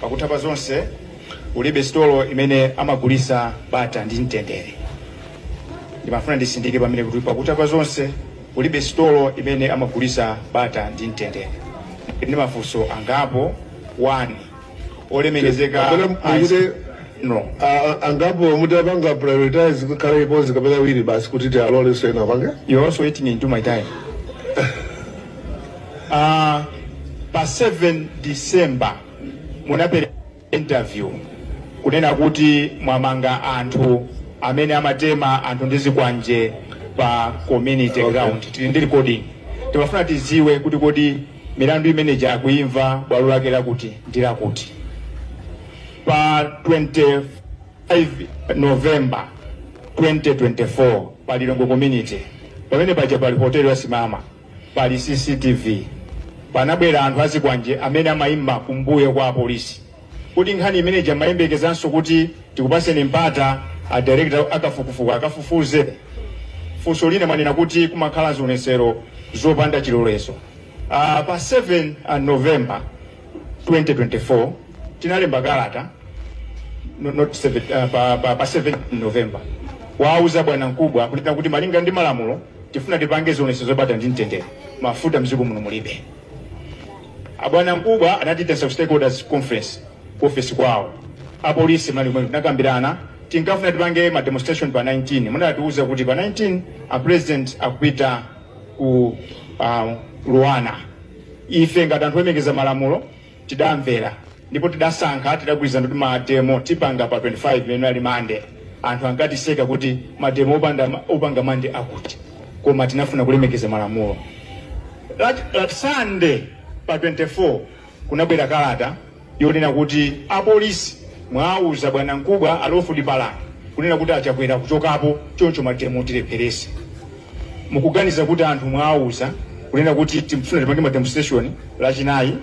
Pakutha pa zonse, ulibe sitolo imene amagulisa bata ndi mtendere. Ndimafuna ndisindike pamenepa kuti pakutha pa zonse, ulibe sitolo imene amagulisa bata ndi mtendere. Ndili ndi mafunso angapo 1. Olemekezeka Kapena muyire- inspector general. A- a- angapo mutapanga prioritize kukhala limodzi kapena awiri basi kuti tialole sena pange You're also eating into my time. Ah, pa 7 December munapereka interview kunena kuti mwamanga anthu amene amatema anthu ndi zikwanje pa community ground tili ndi recording timafuna tiziwe kuti kodi milandu imeneja akuimva bwalo lake lakuti ndi lakuti pa 25 november 2024 pa Lilongwe community pamene paja pali hoteli ya Simama Pali CCTV. Panabwera anthu azikwanje amene amaima kumbuyo kwa apolisi. Kodi nkhani imene ija mumayembekezanso kuti tikupaseni mpata a director akafukufuku akafufuze? Funso lina mwanena kuti kumakhala zionetsero zopanda chilolezo. Pa 7 November 2024 tinalemba kalata no- not seven, uh, pa, pa, pa 7 november kuwauza bwana mkubwa kunena kuti malinga ndi malamulo tifuna tipange zionetsero zabata ndi mtendere mafuta mdziko muno mulibe abwana mkubwa anatiitanitsa ku stakeholders conference ku office kwawo apolisi munali komweko tinakambirana tinkafuna tipange ma demonstration pa 19 munatiuza kuti pa 19 a president akupita ku uh, LUANAR ife ngati anthu olemekeza malamulo tidamvera ndipo tidasankha tidagwirizana kuti mademo tipanga pa 25 imene ali mande anthu ankatiseka kuti mademo opanda opanga mande akuti koma tinafuna kulemekeza malamulo Lach- Lach- sande pa 24 kunabwera kalata yonena kuti apolisi mwawuza bwanamkubwa a Lawford Palani kunena kuti a Chakwera akuchokapo choncho mademo mutilepherese. Mukuganiza kuti anthu mwawuza kunena kuti tikufuna tipange ma demonstration lachinayi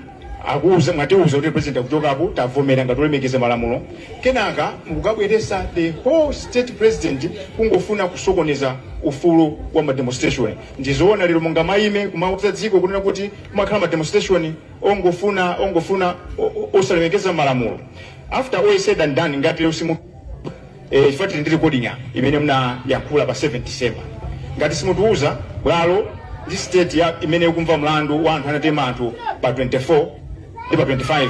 akuwuza mwatiwuza kuti president akuchokapo tavomera ngati olemekeza malamulo kenaka mukukabweresa the whole state president kungofuna kusokoneza ufulu wa ma demonstration. Ndizoona lero mungamayime kumawuza dziko kunena kuti kumakhala ma demonstration? ongofuna ongofuna osalemekeza malamulo after all is said and done ngati lero simu eh, chifukwa tili ndi recording apa imene munayankhula pa 7 December ngati simutiuza bwalo ndi state ya imene ikumva mlandu wa anthu anatema anthu pa 24 ndi pa 25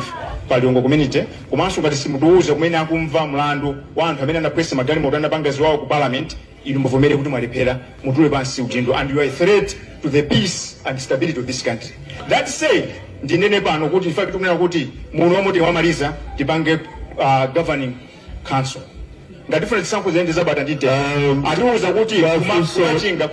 pa Lilongwe community komanso ngati simutiuza kumene akumva mlandu wa anthu amene anaphwanya magalimoto anapanga ziwawa ku parliament inu muvomere kuti mwalephera mutule pansi udindo and you are a threat to the peace and stability of this country that said ndinene pano kuti ife tikunena kuti muno momwe tikamaliza tipange uh, governing council ngati funa tisankho ziyende zabata ndiye Um, atiuza kuti mafunso- kumachinga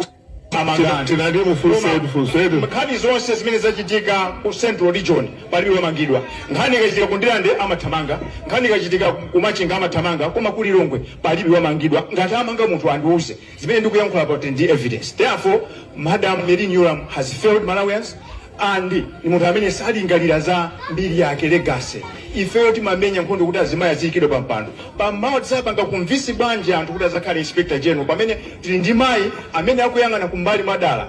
Tina- tinali mufunse- mufunse- nkhani zonse zimene zachitika ku central region Palibe wamangidwa. Nkhani ikachitika ku Ndirande amathamanga, nkhani ikachitika ku Machinga amathamanga koma ku Lilongwe palibe wamangidwa. Ngati amanga munthu andiuze. Zimene ndikuyankhula apa ndi evidence. Therefore, Madam Merlyne Yolamu has failed Malawians and ndi munthu amene salingalira za mbiri yake, legacy. Ifeyo timamenya nkhondo kuti azimayi aziyikidwa pa mpando. Pamawa tidzapanga convince bwanji anthu kuti azakhale Inspector General pamene tili ndi mayi amene akuyang'ana kumbali mwadala.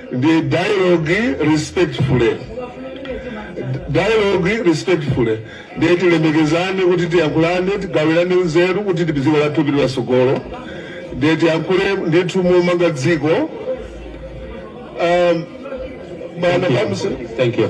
the dialogue respectfully dialogue respectfully ndiye tilemekezane kuti tiyankhulane tigawirane nzeru kuti dziko lathu lipite patsogolo ndiye tiyankhule ndithu momanga dziko um, bwana Kamsi- Thank you.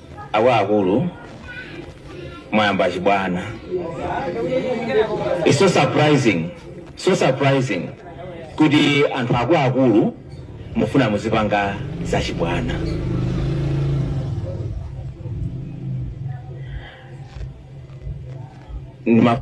akuluakulu mwayamba chibwana It's so surprising so surprising kuti anthu akuluakulu mufuna muzipanga zachibwana Ndima-